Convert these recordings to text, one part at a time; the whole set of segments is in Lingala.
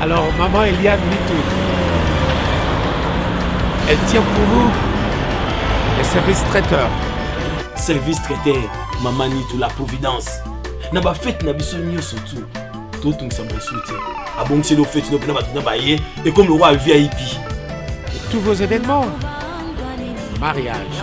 Alors, maman Eliane Mitou, elle tient pour vous le service traiteur. Service traiteur, maman Nitou, la providence. Na ba fête na biso nyonso tout. totungisa mosusu te abongiseli ofeti no mpena bato na baye ekomi lokola vip tous vos événements mariage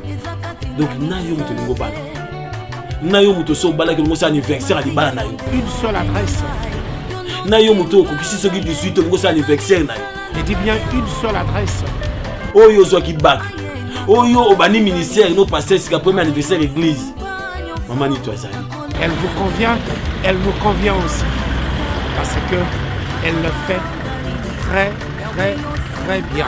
donc na yo moto olingi obala na yo moto so obalaki olongosi anniversaire ya libala na yo une seule adresse na yo moto okokisi soki 18 olongosi anniversaire na yo je dis bien une seule adresse oyo ozwaki bak oyo obandi ministère no pasteur sika premier anniversaire église mama nito azali elle vous convient elle me convient aussi parce que elle le fait très très très bien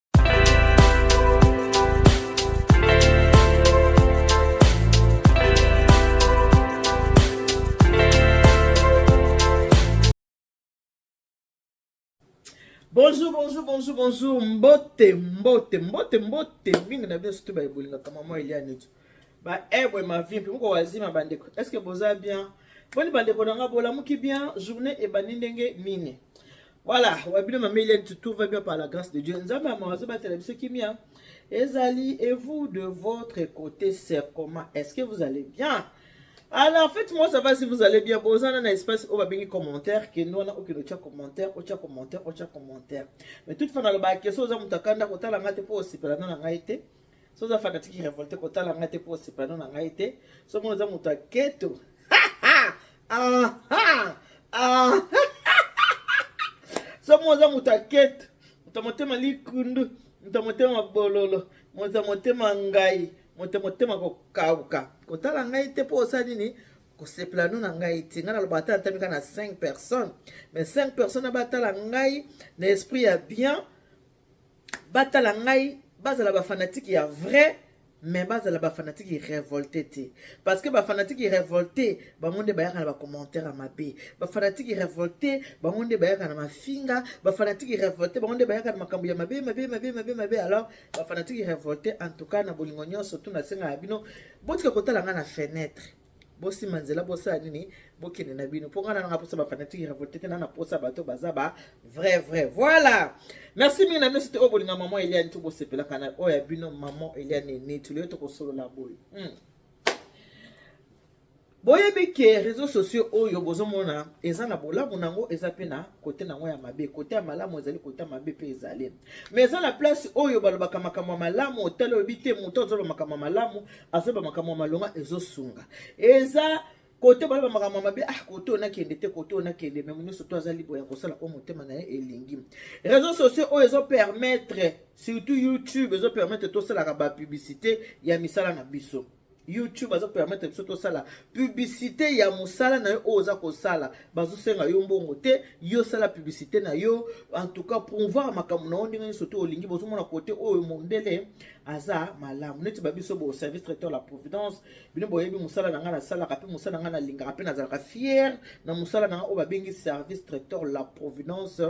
bonjour bonjour bonjour bonjour mbote mbote mbote mbote mingi na bino surtout baebolingaka mama eliane etu baebwe mavi mpe moko wazima bandeko est ce que boza bien boni bandeko na nga bolamuki bien journée ebandi ndenge nini Voilà, wabino mama Hélène, tout va bien par la grâce de Dieu. Nzambe ya mawazo batela biso kimia. Ezali et vous de votre côté, c'est comment Est-ce que vous allez bien alors en fait moi ça va si vous allez bien bozana na espace oyo babengi commentaire kende wana okende otya commentaire otya commentaire otya commentaire mais toute fois nalobaka keso oza moto akanda kotala ngai te mpo osepela na na ngai te so oza fanatiki revolte kotala ngai te mpo osepano na ngai te so mona oza moto ya keto so mona oza moto ya keto moto ya motema likundu moto ya motema bololo moto ya motema ngai moto ya motema kokauka kotala ngai te mpo osala nini kosepela no na ngai te ngai naloba ata natamika na 5 personnes mais 5 personnes abatala ngai na esprit ya bien batala ngai bazala bafanatike ya vrai mais bazala bafanatike revolte te parce que bafanatike revolte bango nde bayaka na bacommentaire ya mabe bafanatike revolte bango nde bayaka na mafinga bafanatike revolte bango nde bayaka na makambo ya mabe mabe mabe mabe mabe alors bafanatike revolte en tout cas na bolingo nyonso tu nasenga ya bino botika kotala ngai na fenêtre bosima nzela bosala nini bokende na bino mpo ngana nanga mposa bafanatique ya revolte te na na mposa bato baza ba vrai vrai voilà merci mingi na bino sete oyo bolinga maman eliane to bosepelaka na oyo ya bino maman eliane eneti leyo tokosolola boye hmm. boyebi ke réseau sociaux oyo bozomona eza na bolamu na yango eza mpe na kote na yango ya mabe kote ya malamu ezali kote ya mabe mpe ezali mais eza na place oyo balobaka makambo ya malamu otali oyebi te moto azoloba makambo ya malamu azoloba makambo ya malonga ezosunga eza kote baloba makambo ya mabe ah kote oyo nakende te kote oyo nakende me nyonso to aza libre ya kosala oyo motema na ye elingi réseau sociaux oyo ezopermettre surtout youtube ezopermettre tosalaka bapublicité ya misala na biso YouTube azo permettre biso tosala publicité ya musala na yo oyo oza kosala bazosenga yo mbongo te yo sala publicité na yo en tout cas promouvoir makambo na yo ndenge nyonso te olingi bozomona kote oyo mondele aza malamu neti babiso bo service traiteur la providence bino boyebi mosala na ngai nasalaka mpe mosala na ngai nalingaka mpe nazalaka fier na mosala na ngai oyo babengi service traiteur la providence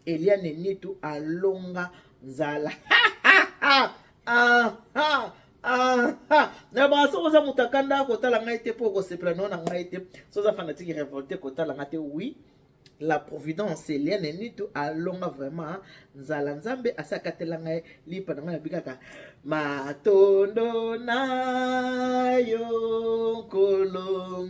eliane nitu alonga nzala ah, ah, ah. na baka soki oza moto akanda kotala ngai te mpo okosepela nao na ngai te so oza fanatike révolte kotala ngai te oui la providence eliane nitu alonga vraiment nzala nzambe asi akatela ngai lipa na ngai nabikaka matondo na yo nkolo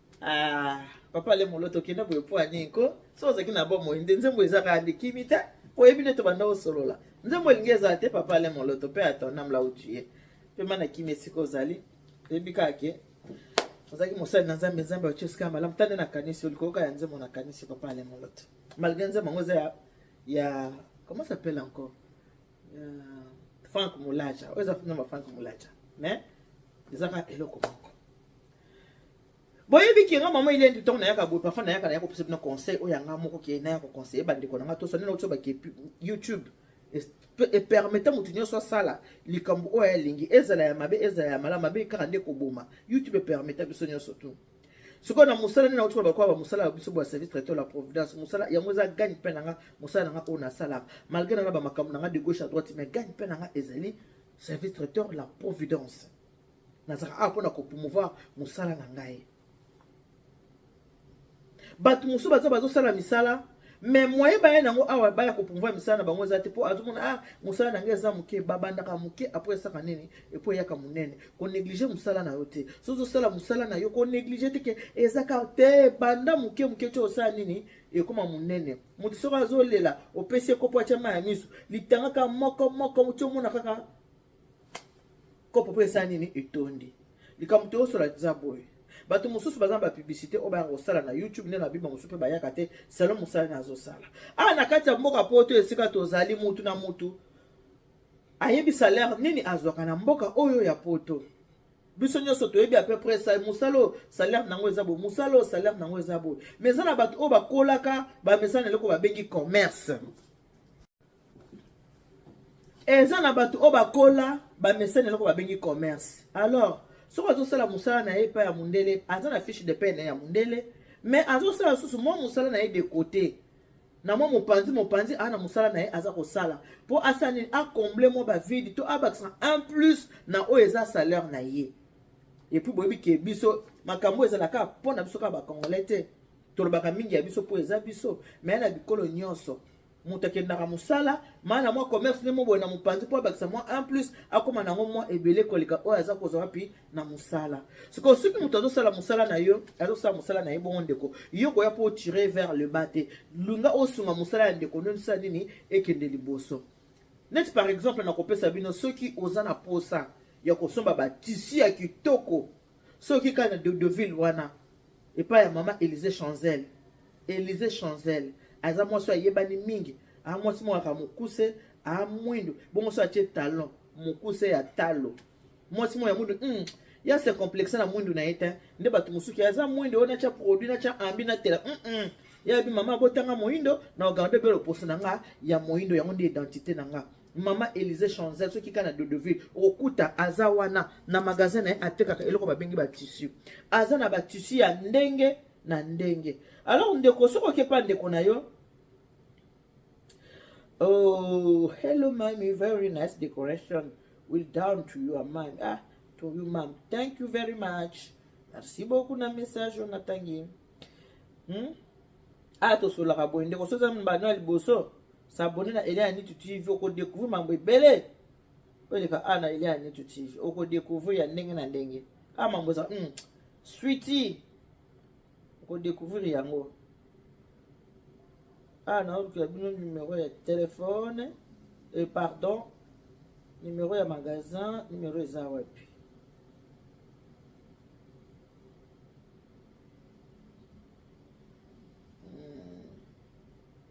Ah, papa le molo tokenda boye mpo anini ko so ozalaki na bomoi nde nzembo ezaka ya ndikimi te oyebi nde tobanda osolola nzembo elingi ezala te papa le moloto mpe atonam la utuye mpe mana kimi esika ozali toyebi kaka ke ozalaki mosali na nzambe nzambe atie esika ya malamu tande nakanisi olikoyoka ya nzembo nakanisi papa le moloto malgré nzembo yango eza ya, ya comment s'appelle encore ya frank molaja oyo eza nzembo ya frank molaja mais ezaka eloko moko boyebi ke nga mama ile ntango nayaka boye parfois nayaka nayaka kopesa bino conseil oyo yanga moko ke naya koconseille bandeko na nga tosani na otiyo bake youtube epermete moto nyonso asala likambo oyo alingi ezala ya mabe ezala ya malamu mabe kaka nde koboma youtube epermete biso nyonso tu sikoyo na mosala nini auti bakoba bamosala ya biso bwa service traité la providence mosala yango eza gagne mpe na nga mosala na nga oyo nasalaka malgré na nga bamakambo na nga de gauche à droite mais gagne mpe na nga ezali service traiteur la providence nazalaka awa mpo na kopromouvoir mosala na ngai bato mosusu baza bazosala misala me moye baya nango awa baya kopromouvoir misala na bango eza te mpo azomona a ah, mosala na ngai eza moke babandaka moke apres esaka nini epo eyaka monene konéglige mosala na yo te so ozosala mosala na yo konéglige te ke ezaka te banda moke moke ti osala nini ekoma monene moto soko azolela opesi ekopo atya mai ya miso litangaka moko moko ti omona kaka kopo mpe esala nini etondi likambo toyosola eza boye bato mosusu baza na bapiblisité oyo bayaka kosala na youtube nde na bima mosusu mpe bayaka te salo mosala na azosala awa ah, na kati ya mboka poto esika tozali mutu na mutu ayebi salaire nini azwaka na mboka oyo ya poto biso nyonso toyebi ape près mosala oyo salaire nango eza boye mosala oyo salaire nango eza boye mais eza na bato oyo bakolaka bamesana eloko babengi commerce eza na bato oyo bakola bamesana eloko babengi commerce alors soki azosala mosala na ye epai ya mondele aza na fiche de paie na ye ya mondele mais azosala lisusu mwa mosala na ye de cote na mwa mopanzi mopanzi aa na mosala na ye aza kosala mpo asala nini acomble mwa bavide to abakisa un plus na oyo eza salaire na ye epuis boyebi ke biso makambo ezala kaka mpo na biso kaka bacongolais te tolobaka mingi ya biso mpo eza biso me na bikolo nyonso moto akendaka mosala maa na mwa commerce nde moboye na mopanzi mpo abakisa mwa 1 plus akóma na yango mwa ebele koleka oyo aza kozwa wapi na mosala sikoyo soki moto azosala mosala na yo azosala mosala na ye bongo ndeko yo koya mpo otire vers le bas te lunga osunga mosala ya ndeko nde osala nini ekende liboso neti par exemple nakopesa bino soki oza na posa ya kosomba batisi ya kitoko soki kaka na dodoville wana epai ya mama elise chanzel elise chanzel aza mwasi oyo ayebani mingi aa mwasi moko aka mokuse aa mwindu bongo so atie talon mokuse ya talo mwasi moko ya mwindu mm, ya se complexe na mwindu na ye te nde bato mosuki aza mwindu oyo natya produit natya ambi natela mm -mm. yayebi mama abotanga moindo na ogando ebele oposo na nga ya moindo yango nde identité na nga mama elise chanzel soki kaka na dodeville okokuta aza wana na magasin na ye atekaka eloko babengi batissu aza na batissu ya ndenge na ndenge alors ndeko soki okepa ndeko na yo oh hello mami very nice decoration will down to you mami ah to you mam thank you very much merci beaucoup na message oyo natangi hmm? ah tosolaka boye ndeko soki oza mbano ya liboso S'abonner na Eliane Nitu TV, oko découvrir mambo ebele. Oleka ana Eliane Nitu TV, oko découvrir ya ndenge na ndenge. Ah mambo za, hmm, sweetie. Oko découvrir yango. Ah na olukela bino numéro ya téléphone, et eh, pardon, numéro ya magasin, numéro eza wapi?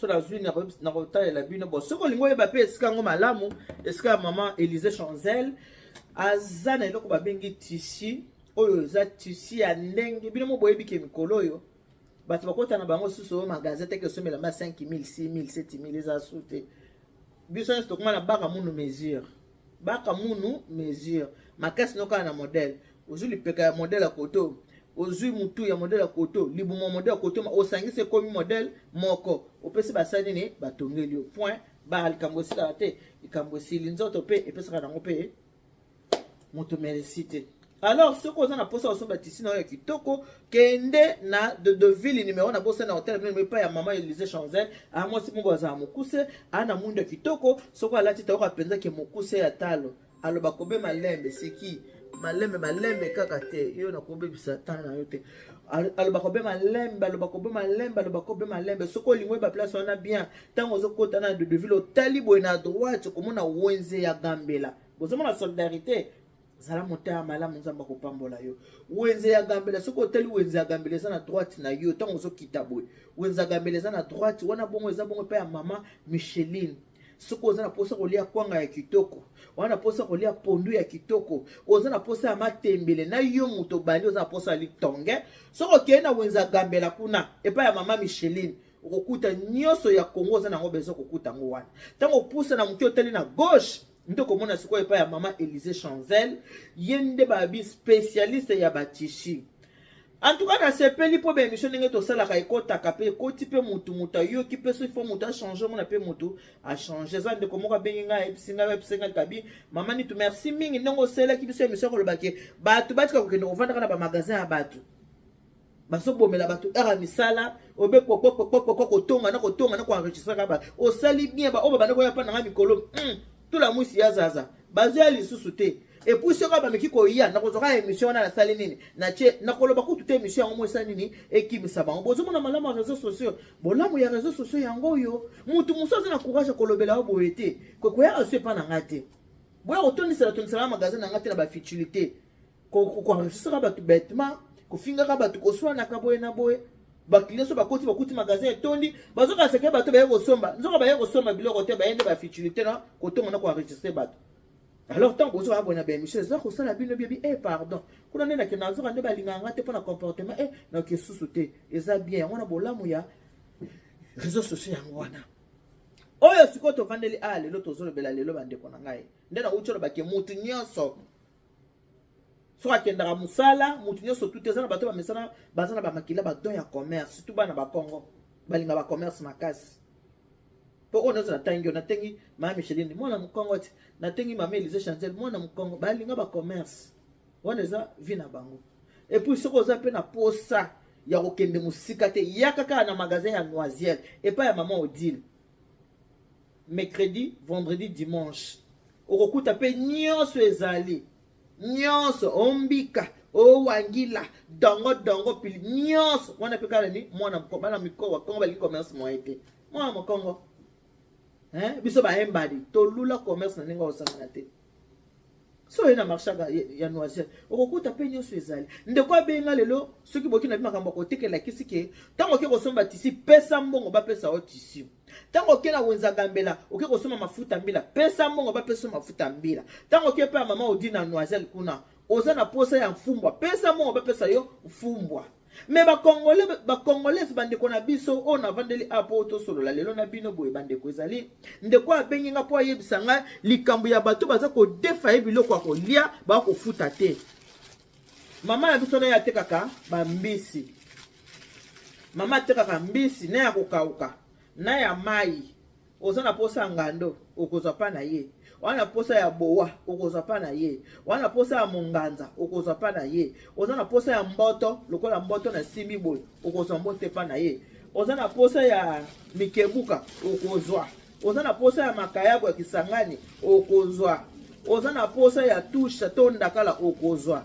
so nazwi nakotalela bino bo soki olingi oyeba mpe esika yango malamu esika ya mama elise chanzel aza na eloko babengi tisi oyo eza tisi ya ndenge bino mo boyebi ke mikolo oyo bato bakota na bango susu oyo magasin teke osomela ma 5000 6000 7000 eza su te biso nyonso tokoma na baka munu mesure baka munu mesure makasi nokala na modele ozwi lipeka ya modele ya koto ozwi mutu ya modele ya koto libumu ya modele ya koto osangisi ekomi modele moko opesi basali nini batongeli yo point ba likambo esilaka te likambo esili nzoto mpe epesaka nango mpe moto meresi te Alors soki oza na posa osomba tissu na yo ya kitoko, kende na de de ville numéro na bosa na hotel mimi pa ya maman Elise Chanzel, a mwasi mungu aza mukuse, ana mundu ya kitoko, soki alati taoka penza ke mukuse ya talo. Aloba kobe malembe siki malembe malembe kaka te yo nakobebisa temps na yo te aloba kobe malembe aloba kobe malembe aloba kobe malembe soki olingi oyeba place wana bien ntango ozokota na dodeville otali boye na droite okomona wenze ya gambela bozomona solidarité zala motema malamu nzambe akopambola yo wenze ya gambela soki otali wenze ya gambela eza na droite na yo ntango ozokita boye wenze ya gambela eza na droite wana bongo eza bongo mpe ya mama micheline soki oza na mposa kolia kwanga ya kitoko oza na mposa kolia pondu ya kitoko oza na mposa ya matembele na yo moto obandi oza na mposa ya litonge soki okei na wenze ya gambela kuna epai ya mama micheline okokuta nyonso ya kongo oza na yango bezo kokuta yango wana ntango opusa na moke otali na gauche nde komona sikoyo epai ya mama elise chanzel ye nde babi spécialiste ya batisi en tout cas nasepeli mpo baémission ndenge tosalaka ekotaka mpe ekoti mpe motu motu ayoki mpe soki fo motu achange omona mpe motu achange eza ndeko moko abengi ngai ayebisi ngai ayebisi ngai kabi mama nitu merci mingi ndenge osalelaki biso émission kolobake bato batika kokende kovandaka na bamagasin ya bato bazobomela bato heure ya misala obe kokokokokoko kotonga na kotonga na koenregistraka ba osali bien baoyo babanda koya mpa nanga mikolo hmm, tula mwisi ya zaza bazoya lisusu te epuis soki bameki koya nakozwaka émission wana nasali nini natie nakoloba kutu te émission yango mosa nini ekimisa bango bozomona malamu ya réseau sociaux bolamu ya réseau sociaux yango oyo motu mosusu aza na courage ya kolobela yo boye te kokoyaka so epa na ngai te boya kotondisela tondisela na magasin na ngai te na bafutilité koenregistraka bato betement kofingaka bato koswanaka boye na boye baklienso bakoti bakuti magasin etondi bazoka seke bato baye kosomba nzoka baye kosomba biloko te baye nde bafitilité na kotonga na koenregistre bato alors ntango bozoka boye na baémission eza kosala bino biebi e eh, pardon kuna nde nake nazoka nde balingaka nga te mpo na comportement e eh, nake esusu te eza bien yango na bolamu ya réseau sociaux yango wana oyo sikoyo tovandeli a ah, lelo tozolobela lelo bandeko na ngai nde nauti olobake motu nyonso soki akendaka mosala moto nyonso tutu eza na bato bamesana baza na bamakila badon ya commerce surtout bana bakongo balinga bacommerce makasi mpo oyo nyonso natangi yo natengi mama micheline mwana mokongo ti natengi mama elise chancel mwana mokongo balinga bacommerce wana eza vi na bango epuis soki oza mpe na posa ya kokende mosika te yaka kaka na magasin ya noisiel epai ya mama odile mercredi vendredi dimanche okokuta mpe nyonso ezali nyonso ombika owangila dongo dongo pili nyonso wana mpe kala ni mwana bana mikolo bakongo balingi commerce moye te mwana mokongo biso bayembadi tolula commerce na ndenge osangana te so oye na marché ya noiselle okokuta mpe nyonso ezali ndeko abenga lelo soki boki na bi makambo akotekela kisi ke ntango oke kosomba tisi pesa mbongo bapesa yo tisi ntango oke na wenza gambela oke kosomba mafuta mbila pesa mbongo bapesa yo mafuta mbila ntango oke mpe ya mama odi na noiselle kuna oza na posa ya mfumbwa pesa mbongo bapesa yo mfumbwa me bakongole bakongolese bandeko na biso oyo navandeli a mpo tosolola lelo na bino boye bandeko ezali ndeko abengi nga mpo ayebisa ngai likambo ya bato baza kodefa ye biloko ya kolia baa kofuta te mama na biso naye atekaka bambisi mama atekaka mbisi na ya kokauka na ya mai oza na posa ya ngando okozwa pa na ye wana na posa ya bowa okozwa pa na ye wana na posa ya monganza okozwa pa na ye oza na posa ya mboto lokola mboto na simi boye okozwa mbote pa na ye oza na posa ya mikebuka okozwa oza na posa ya makayabu ya kisangani okozwa oza na posa ya tusha to ndakala okozwa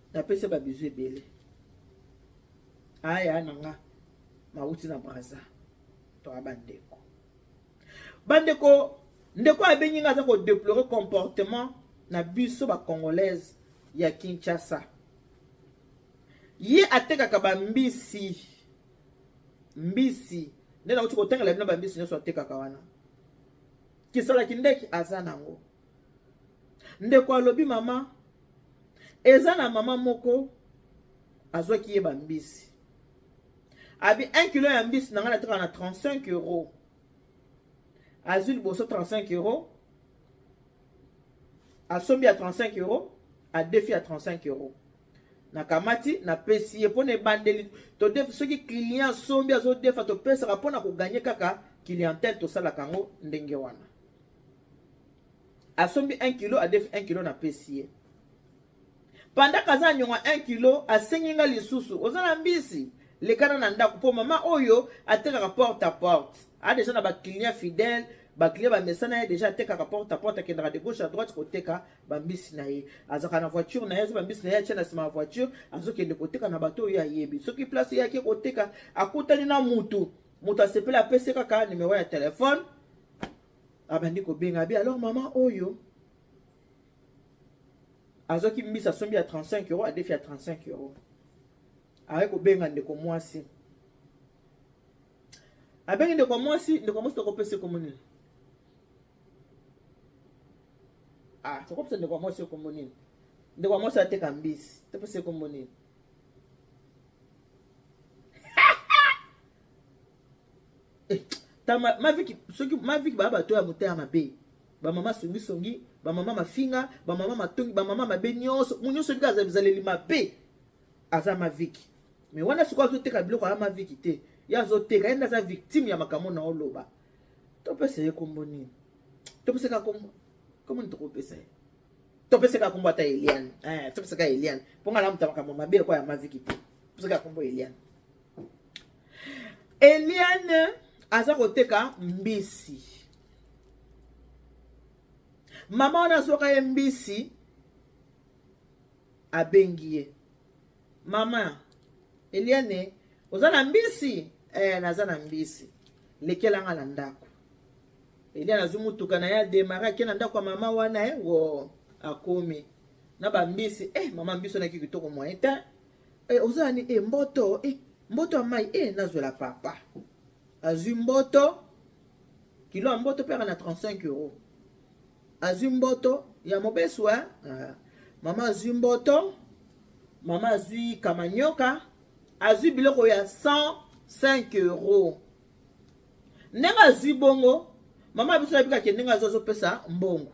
napesa ba bisous ebele aya na nga mawuti na braza toa bandeko bandeko ndeko abengi nga aza kodeplore comportement na biso bacongolaise ya kinshasa ye atekaka bambisi mbisi nde nauti kotangela bino bambisi nyonso atekaka wana kisalaki ndeki aza nango ndeko alobi mama eza na mama moko azwaki ye bambisi abi 1 kilo ya mbisi na ngai nataka na 35 euro azwi liboso 35 euro asombi ya 35 euro adefi ya 35 euro nakamati napesi ye mpo na ebandeli todefi soki client asombi azodefa topesaka mpo na koganye kaka clientele tosalaka yango ndenge wana asombi 1 kilo adefi 1 kilo na pesi ye pandaka aza na nyonga 1 kilo asengi nga lisusu oza na mbisi lekana na ndako mpo mama oyo atekaka porte a porte a deja na baclient fidèle baclient bamesana ye deja atekaka porte a porte akendaka de gauche à droite koteka bambisi na ye azalaka na voiture na ye azo bambisi na ye atye na nsima ya voiture azokende koteka na bato oyo ayebi soki place eyaki koteka akutani na motu moto asepeli apesi kaka nimero ya telefone abandi kobenga abi alors mama oyo azwaki mbisi asombi ya 35 euro adefi ya 35 euro aye kobenga ndeko mwasi abengi ndeko mwasi ndeko mwasi tokopesa ekombo nini ah tokopesa ndeko mwasi ekombo nini ndeko mwasi ateka mbisi topesa ekombo nini eh, tama maviki soki maviki ba bato ya motema mabe ba mama songi songi ba mama mafinga ba mama matongi ba mama mabe nyonso mu nyonso ndika aza bizaleli mabe aza maviki mais wana sikoyo azoteka biloko ya maviki te ye azoteka ye nde aza victime ya makambo na oloba topesa ye kombo nini topesaka kombo kombo nini tokopesa ye topesaka kombo ata eliane eh, topesaka eliane mpo ngai namuta makambo mabe lokola ya maviki te topesaka kombo eliane Eliane aza koteka mbisi mama wana azwaka ye mbisi abengi ye mama eliane oza na mbisi eh, naza na mbisi lekela nga na ndako eliane azwi motuka na ye ademare ake na ndako ya mama wana ye eh, wo akomi na bambisi eh, mama mbisi onaki kitoko moye te Eh, oza nani eh, mboto eh, mboto ya mai eh, nazwela papa azwi mboto kilo ya mboto mpe aka na 35 euro azwi mboto ya mobesu eh? ah. mama azwi mboto mama azwi kamanyoka azwi biloko ya 105 euro ndenge azwi bongo mama biso nabikake ndenge azwi azopesa mbongo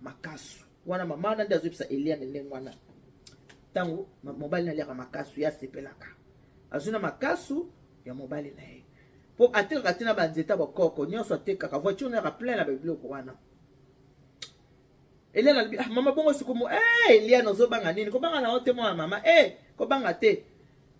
makasu wana mama wana nde azoyebisa eliane ndenge wana ntango mobali na aliaka makasu ye asepelaka azwi na makasu ya mobali na ye mpo atekaka te na banzeta bakoko nyonso atekaka voiture nayaka plein na babiloko wana eliane alobi ah, mama bongo sikomo e eh, eliane ozobanga nini kobanga na yo te mwana mama e kobanga te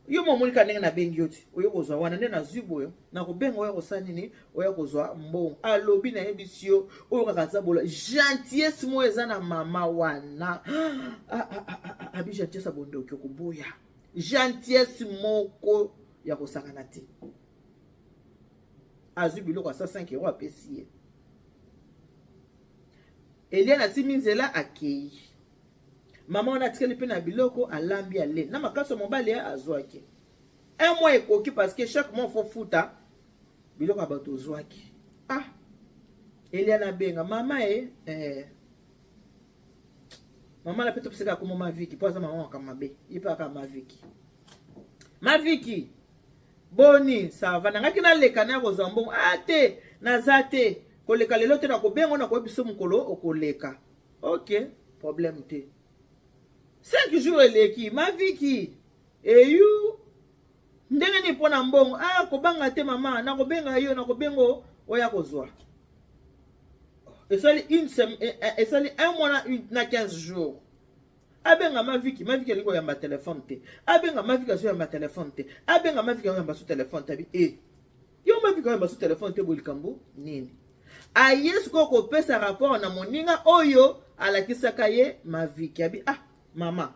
yo mo monika ndenge na bengi yo ti oyo kozwa wana nde nazwi boyo na kobenga oyo kosala nini oyo kozwa mbongo alobi na yebisi yo oyo kaka aza bola gentillesse mo eza na mama wana ah, ah, ah, abi gentillesse abondoki okoboya gentillesse moko ya kosakana te azwi biloko ya 105 euro apesi ye eliane asimi nzela akei mama wana atikali mpe na biloko alambi ale na makasi ya mobali eh, azwaki un mois ekoki parce que chaque mois faut futa biloko ya bato ozwaki ah elia nabenga mama e eh. mama na mpe topesaka akoma maviki mpo aza mama waka mabe ye mpe aka maviki maviki boni sava nangaki naleka na ya kozwa mbongo a ah, te naza te koleka lelo te nakobengo nakoyebiso mokolo okoleka ok problème te 5 jours eleki maviki eyu ndenge nini mpo na mbongo a ah, kobanga te mama nakobenga yo nakobengo oya kozwa esali une semaine eh, eh, esali un mois na, na 15 jours abenga maviki maviki alingi koyamba telefone te abenga maviki azoyamba telefone te abenga maviki azoyamba so telefone te abi e eh. Yo mafi kaka basu telefone te boye likambo nini? Aye sikoyo kopesa rapport na moninga oyo alakisaka ye maviki abi ah mama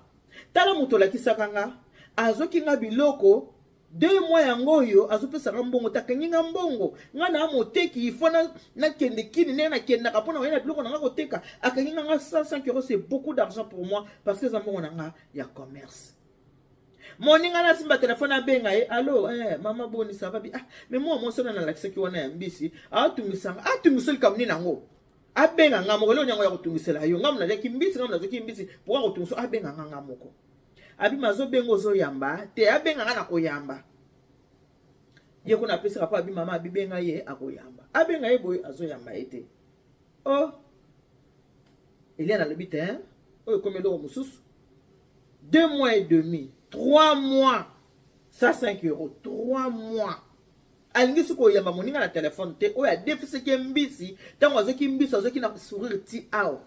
tala moto olakisaka nga azoki nga biloko deux mois yango oyo azopesaka mbongo takangi nga mbongo nga na moteki ifo nakende kini ndenge nakendaka mpo na koyena biloko na nga koteka akangi nga nga 105 euros c'est beaucoup d'argent pour moi parce que eza mbongo na nga ya commerce moninga na asimba telefone abenga ye alo eh, mama boni sava bi ah, me mwa mwasi wana nalakisaki wana ya mbisi atungisanga atungiso likambo nini yango abenga nga moko eloko yango ya kotungisela yo nga monaliaki mbisi nga monazoki mbisi mpoka kotungiso abenga nga nga moko abima azobenga ozoyamba te abenga nga na koyamba ye kuna apesaka mpo abimama abibenga ye akoyamba abenga ye boye azoyamba ye te oh elia nalobi te hein? oyo ekomi eloko mosusu deux mois et demi trois mois ça 5 euro trois mois alingi soki koyamba moninga na telefone te oyo adefisaki mbisi ntango azoki mbisi azoki na sourire ti awa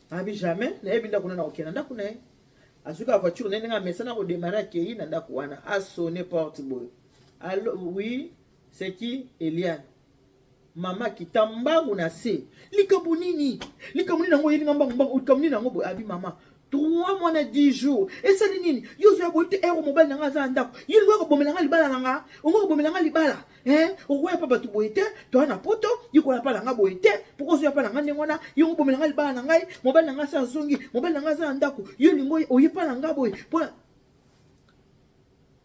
abi jamais nayebi ndako na nakokende na ndako na ye azoki avoiture na ye ndenge amesana kodemare akei na ndako wana asone porte boye alo oui c'est qui eliane mama kita mbangu na se likambo nini likambo nini yango oyeli nga mbangu mbangu likambo nini yango boye abi mama trois mois na 10 jours esali nini yo ozoya boye te ero mobali na nga aza na ndako ye lingo akobomela nga libala na nga ongo akobomela nga libala okoya pa bato boye te toya na poto yekoya pa na nga boye te poko ozoya pa na nga ndenge wana ye okobomela nga libala na ngai mobali na nga asa azongi mobali na nga aza na ndako yo lingo oye pa na nga boye mpona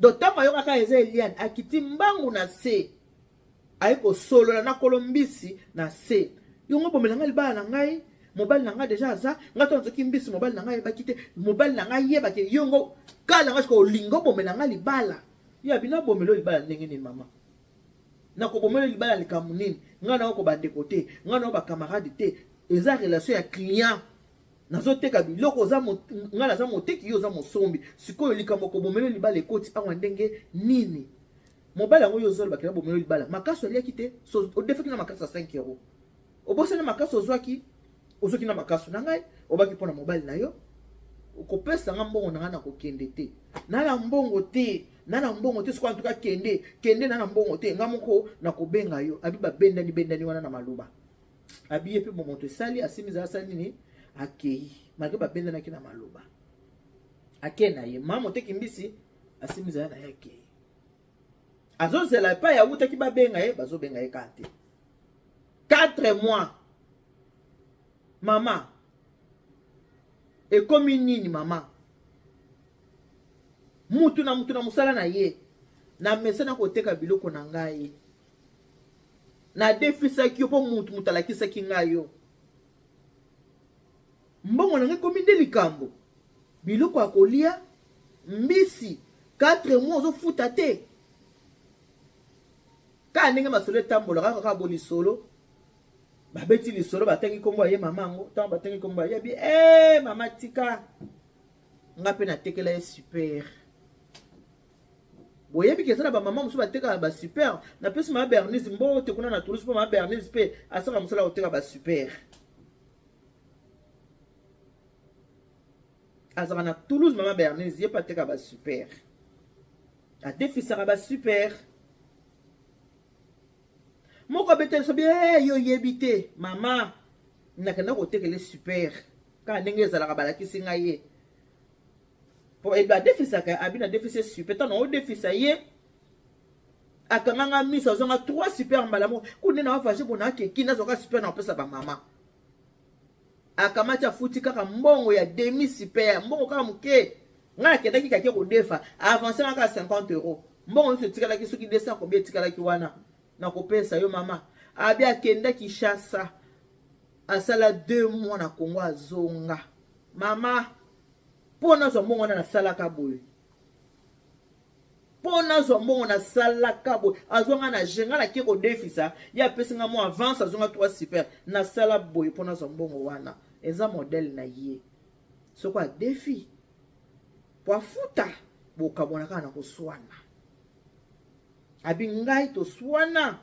donc ntango ayokaka eza eliane akiti mbangu na se aye kosolola na kolo mbisi na se yongo bomela ngai libala na ngai mobali na ngai deja aza ngai to nazoki mbisi mobali na ngai ayebaki te mobali na ngai ayebaki yongo kala ngai sikoyo olingi obomela ngai libala yo abino abomela yo libala ndenge nini mama nakobomela libala likambo nini ngai nayoko bandeko te ngai nayo bakamarade te eza relation ya client nazoteka biloko oza ngai naza moteki yo oza mosombi sikoyo likambo kobomela libala ekoti awa ndenge nini Mobali yango yo ozoloba kena bomelo libala. Makasi oliaki te, so odefaki na makasi ya 5 euro. Obosani makasi ozwaki, ozwaki na makasi na ngai, obaki mpo na mobali na yo. Okopesa nga mbongo na ngai na kokende te. Na na mbongo te, na na mbongo te, sikoyo antuka kende, kende na na mbongo te. Nga moko na kobenga yo, abi babendani bendani wana na maloba. Abi ye mpe momoto esali, asimi zala asali nini? Akei, malgre babendanaki na maloba. Akei na ye, mama oteki mbisi, asimi zala na ye akei. azozela epai ya wutaki babenga ye bazobenga ye kaka te 4 mois mama ekomi nini mama mutu na mutu na mosala na ye namesana koteka biloko na ngai nadefisaki yo mpo mutu mutu alakisaki ngai yo Mbongo na ngai ekomi nde likambo. Biloko ya kolia, mbisi, 4 mois ozofuta te. Kaka ndenge masolo etambolaka kaka bo lisolo babeti lisolo batangi nkombo ya ye mama yango ntango batangi nkombo ya yebi e mama tika nga mpe natekela ye super boyebi keza na bamama mosusu batekaka basuper napesi mama bernise mbote kuna na toulouse mpo mama bernise mpe asaka mosala koteka basuper azalaka na toulouse mama bernise ye mpe ateka basuper adefisaka basuper moko abeteli so bie eh, yo oyebi te mama nakenda kotekele super kaka ndenge ezalaka balakisi ngai ye po edo adefisaka abi na defise super ntango odefisa ye akanganga miso azwanga trois super mbala moko kuna na wafashe bona akeki nazwaka super na kopesa bamama akamati afuti kaka mbongo ya demi super mbongo kaka moke ngai nakendaki kake kodefa avance nga kaka 50 euro mbongo nyonso etikalaki soki 200 kobi etikalaki wana nakopesa yo mama abi akenda kinshasa asala deux mois na kongo azonga mama mpo nazwa mbongo wana nasalaka boye mpo nazwa mbongo nasalaka boye azwa ngai na je ngai nake kodefisa ye apesi ngai mwa avance azwa ngai trois super nasala boye mpo nazwa mbongo wana eza modele na ye soko adefi mpo afuta bokabwana kaka na koswana abi ngai toswana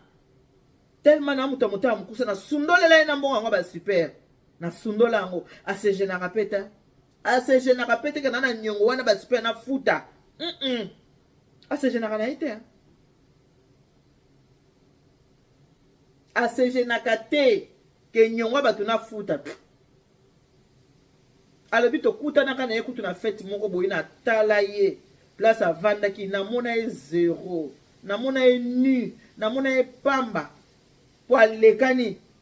telema na moto ya motema mokusa nasundolela ye na mbongo yango basuper nasundola yango asegenaka mpe te asejenaka mpe teke na na nyongo wana basi mpe na futa mm -mm. asejenaka na ye te asejenaka te ke nyongo ya bato na futa alobi tokutanaka na ye kutu na fete moko boye natala ye place avandaki namona ye zero namona ye nu namona ye pamba mpo alekani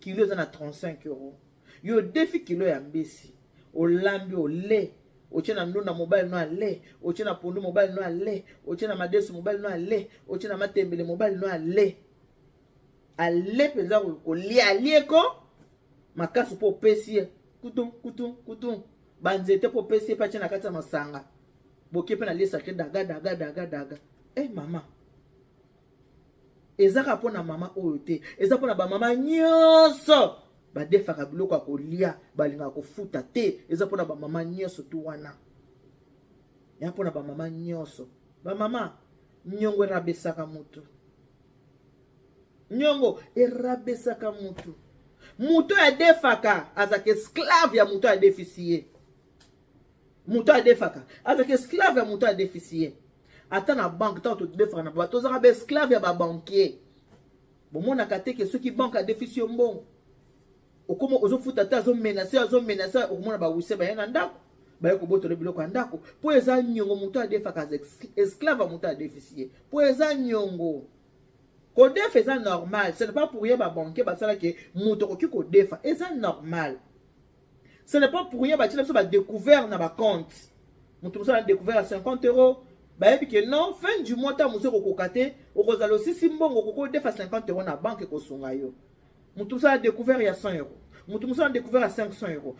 kilo eza na 35 euro yo odefi kilo ya mbisi olambi ole otie na ndunda mobali no ale otie na pondu mobali no ale otie na madesu mobali no ale otie na matembele mobali no ale ale mpenza kolia alie ko makasi mpo opesi ye kutum kutum kutum banzete mpo opesi ye mpe atie na kati ya masanga boke mpe na liesake daga daga daga daga e eh, mama eza kaka mpo na mama oyo te eza mpo na bamama nyonso badefaka biloko ya kolia balingaka kofuta te eza mpo na bamama nyonso tu wana ya mpo na bamama nyonso bamama nyongo erabesaka motu nyongo erabesaka motu moto oyo adefaka azalaka esclave ya moto oyo adefisi ye moto adefaka azalaka esclave ya moto adefisi ye ata na banke ntango todefaka na bato tozalaka baesclave ya babankier bomonaka te ke soki banke adefisi yo mbongo okoma ozofuta te azomenase azomenase okomona bawise baye na ndako baye kobotola biloko ya ndako mpo eza nyongo moto adefaka esclave ya moto adefisi ye mpo eza nyongo kodefa eza normal ce n'est pas pour ye babanke basalaki moto okoki kodefa eza normal ce n'est pas pour rien batyela biso badécouvert na bacompte moto mosala na découvert ya 50 euros bayebi ke non fin du mois ntango mosu ekokoka te okozala osisi mbongo okoki odefa 50 euros na banke ekosunga yo moto mosala découvert ya 100 euros moto mosala découvert ya 500 euros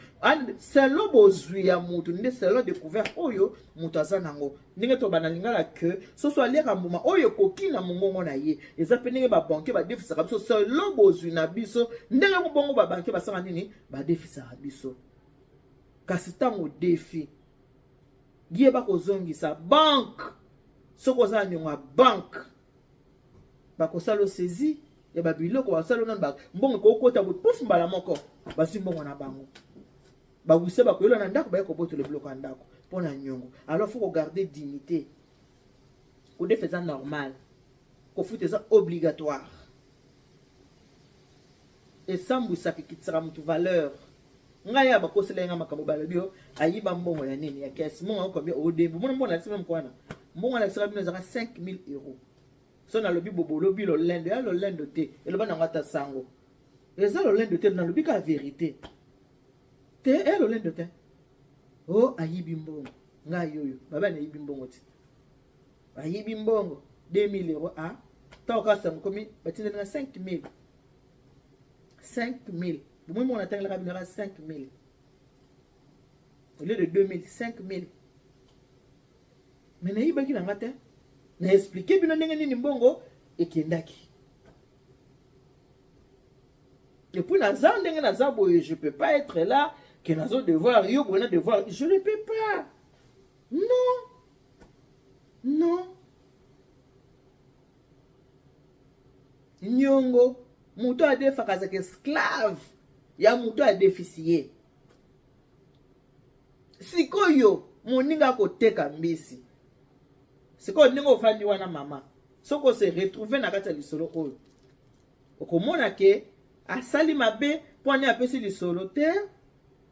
selo bozwi ya moto nde selo découvert oyo moto aza nango ndenge tobanda lingala ke soso aliaka mbuma oyo ekoki na mongongo na ye eza mpe ndenge babanke badefisaka biso selo bozwi na biso ndenge bongo babanke basala nini badefisaka biso kasi ntango defi ye bakozongisa banke soki oza na niongo ya banke bakosala osezi ya babiloko basala nano mbongo ekokota boye pufu mbala moko bazwi mbongo na bango bawisa bakoyola na ndako baye kobotola biloko ya ndako mpo na niongo alors faut kogarde dignité kodefa eza normal kofuta eza obligatoire esambwisaka ekitisaka motu valeur ngai ya bakosela ye ngai makambo balobi yo ayiba mbongo ya nini ya kesi mbongo yango combien odembo mona mbongo nalakisi meme kwana mbongo nalakisaka bino ezaka 5000 euros so nalobi bobolobi lolendo ya lolendo te eloba nango ata sango eza lolendo te nalobi kaka verité te e lolendo te o oh, ayibi mbongo ngai yoyo baba nayibi mbongo te ayibi mbongo 2000 euros a ah, ntango kaka sango komi batindeli na 5000 5000 bomoi moko natangelaka bino yaka 5000 au lieu de 2000 5000 me nayibaki na nga te na explike bino ndenge nini mbongo ekendaki epuis naza ndenge naza boye je peux pas être là ke nazo devoir yo boye na devoir je ne peux pas non non niongo moto adefaka azalaka esclave ya moto adefisi ye sikoyo moninga akoteka mbisi sikoyo ndenge ofandi wana mama soki ose retrouve na kati ya lisolo oyo okomona ke asali mabe mpo ane apesi lisolo te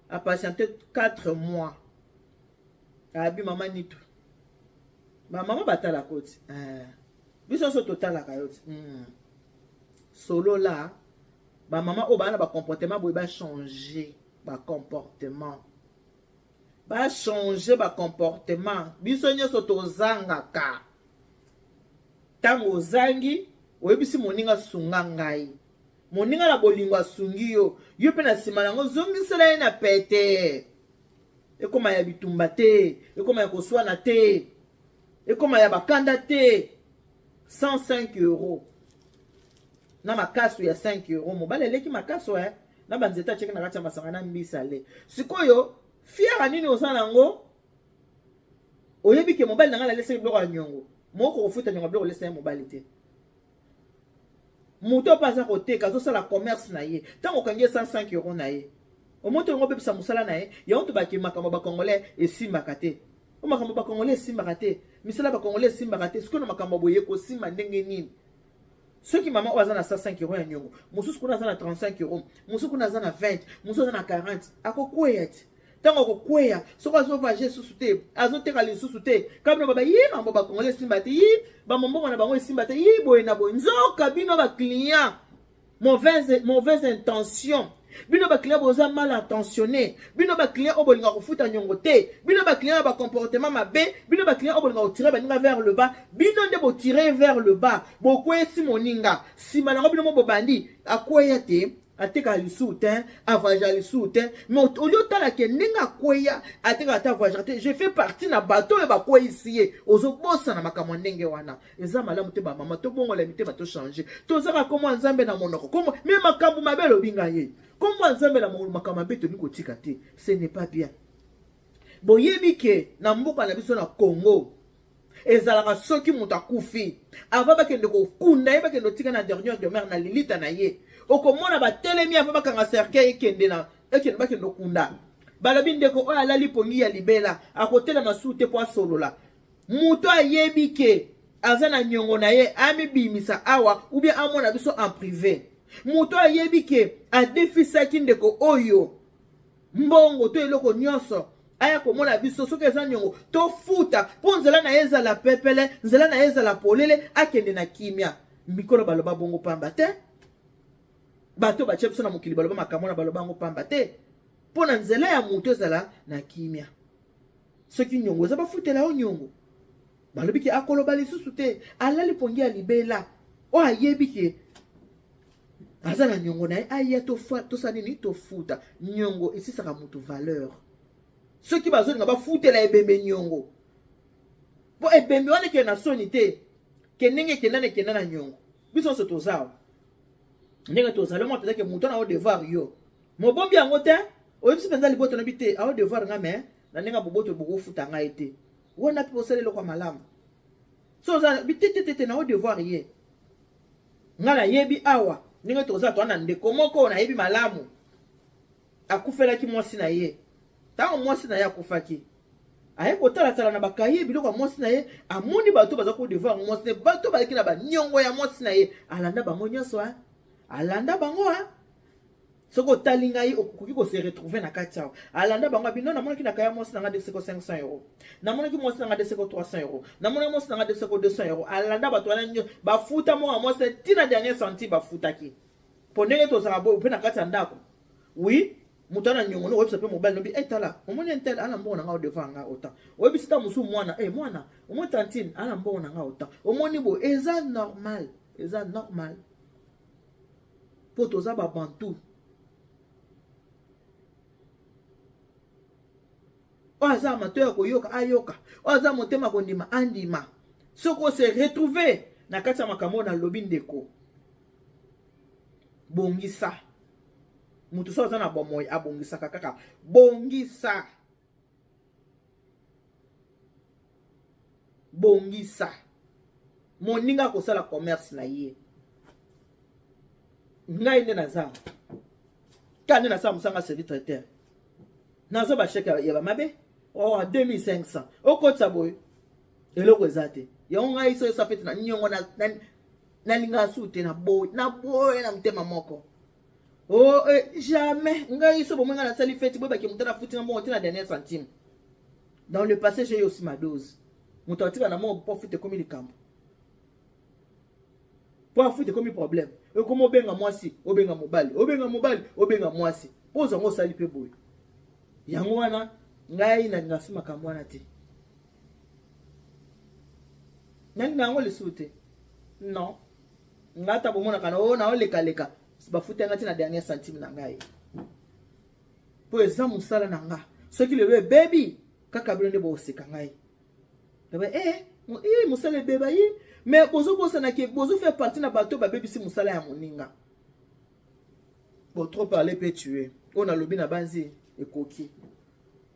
apatiente 4 mois abi mama nitu bamama batalaka oti eh. biso so totalaka yo te mm. solola bamama oyo baa na bacomportement boye bachange bacomportement bachange bacomportement biso nyonso tozangaka ntango ozangi oyebisi moninga sunga ngai moninga na bolingo asungi yo yo mpe na nsima na yango zongisela ye na pete ekoma ya bitumba te ekoma ya koswana te ekoma ya bakanda te 105 euro na makasu ya 5 euro mobali aleki makasu eh? na banzete atyeki na kati ya masanga na mbisa le sikoyo fiara nini oza na yango oyebi ke mobali na ngai nalesaki biloko ya nyongo moko kofuta nyongo biloko olesaki mobali te moto oyo mpe aza koteka azosala commerce na ye ntango okangi ye 105 euro na ye omoto yango obebisa mosala na ye yango tobaki makambo ya bacongolais esimbaka te o makambo ya bacongolais esimbaka te misala ya bacongolais esimbaka te sikoyo na makambo ya boye ekosimba ndenge nini soki mama oyo aza na 105 euro ya nyongo mosusu kuna aza na 35 euro mosusu kuna aza na 20 mosusu aza na 40 akokweya te ntango akokweya soki azovage lisusu te azoteka lisusu te kabino baba ye mambo bakongole esimba te yi bamambongo na bango esimba te yi boye na boye nzoka bino baclient mauvaise, mauvaise intention bino baclient boza mal attentionne bino baclient oyo bolinga kofuta nyongo te bino baclient ya bacomportement mabe bino baclient oyo bolinga kotire baninga vers le bas bino nde botire vers le bas bokweyisi moninga nsima nango bino mo bobandi akweya te atika lisusu te avoyagea lisusu te mais olie otala ke ndenge akweya atika ata avoyagea te je fais partie na bato oyo bakweyisi ye ozobosana makambo ya ndenge wana eza malamu te bamama tobongola mitema tochange tozaka komwa nzambe na monoko komo me makambo mabe alobi ngai ye komwa nzambe na monoko makambo mabe tolingi kotika te ce n'est pas bien boyebi ke na mboka na biso na congo ezalaka soki moto akufi avant bakende kokunda ye bakende otika na dernière demeure na lilita na ye okomona batelemi avant bakanga cercueil ekende na ekende bakende okunda balobi ndeko oyo alali pongi ya libela akotelema su te mpo asolola moto ayebi ke aza na nyongo na ye amibimisa awa ubien amona biso en prive moto ayebi ke adefisaki ndeko oyo mbongo to eloko nyonso aya komona biso soki eza nyongo tofuta mpo nzela na ye ezala pepele nzela na ye ezala polele akende na kimia mikolo baloba bongo pamba te bato batya biso na mokili baloba makambo na baloba yango pamba te mpo na nzela ya moto ezala na kimia soki nyongo eza bafutela yo nyongo balobi ke akoloba lisusu te alali pongi ya libela oyo ayebi ke aza na nyongo na ye aya tosala nini tofuta nyongo esisaka moto valeur soki bazolinga bafutela ebembe nyongo mpo ebembe wana ekende na soni te ke ndenge ekenda na ekenda na nyongo biso nyonso toza awa ndenge tozali mwa mpenza ke moto na yo devoir yo mobombi yango te oyebisi mpenza libota na bi te ayo devoir nga me na ndenge ya boboto bokofuta ngai te wana mpe osala eloko ya malamu so oza bitetetete na yo devoir ye Nga nayebi awa ndenge toza toa na ndeko moko nayebi malamu akufelaki mwasi na ye ntango mwasi na ye akufaki aye kotalatala na bakaye biloko ya mwasi na ye amoni bato baza ko devoir mwasi na ye bato baleki na baniongo ya mwasi na ye alanda bango nyonso a alanda bango a soki otali ngai okoki ko se retrouver na kati awa alanda bango abi non namonaki na kaya mwasi na ngai deseko 500 euro namonaki mwasi na ngai deseko 300 euro namonaki mwasi na ngai deseko 200 euro alanda bato wana nyo bafuta mwana mwasi ti na dernier senti bafutaki mpo ndenge tozala boye mpe na kati ya ndako wi moto ana nyongo no oyebisa mpe mobali lobi e tala omoni entel ana mbongo na ngai odevant ngai otan oyebisi ta mosusu mwana e mwana omoni tantine ana mbongo na ngai otan omoni boye eza normal eza normal mpo toza ba bantu oyo aza amateur ya koyoka ayoka oyo aza motema kondima andima soki ose retrouve na kati ya makambo oyo nalobi ndeko bongisa moto soki aza na bomoi abongisaka kaka bongisa bongisa moninga akosala commerce na ye ngai nde naza ka nde nasala mosanga service traiteur nazwa basheke ya bamabe oh, oa 2500 okotisa boye eloko eza te yango ngai soki esa fete na niongo nalinga su te na boye na boye na motema moko Oh, eh, jamais. Ngai so bomanga na sali fête boy baki mutana futi ngambo tina dernière centime. Dans le passé, j'ai eu aussi ma dose. Mutu atika na mo po futi komi likambo. Po futi komi problème. E komo obenga mwasi, obenga mobali, obenga mobali, obenga mwasi. Po zango sali pe boy. Yango wana ngai na ngasi makambo wana te. Nani nango lisusu te. Non. nga ata komonaka na oyo na olekaleka bafuta nga ti na dernier centime na ngai mpo eza mosala na nga soki lelo ebebi kaka bino nde bokoseka ngai eh, eh, mosala ebeba ye me bozobosana ke bozofaire partie na bato babebisi mosala ya moninga bo trop parle mpe tue oyo nalobi na banzi ekoki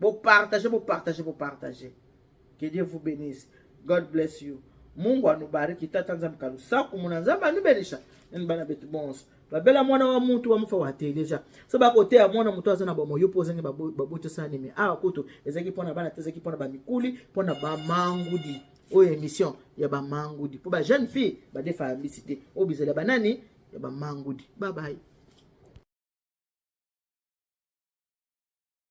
Bo partage, bo partage, bo partage. Que Dieu vous bénisse. God bless you. Mungu anubariki tata nzambe kalusaku muna nzambe anubelisha nini bana betu bonso babela mwana wa mutu wamufa wateleja so bakoteya mwana motu aza na bamoyo mpo ozangi babotosani me awa kutu ezalaki mpo na bana te ezalaki mpo na bamikuli mpo na bamangudi oyo émission ya bamangudi mpo ba jeune fille badefa ya mbisi te oyo bizala banani ya bamangudi babaye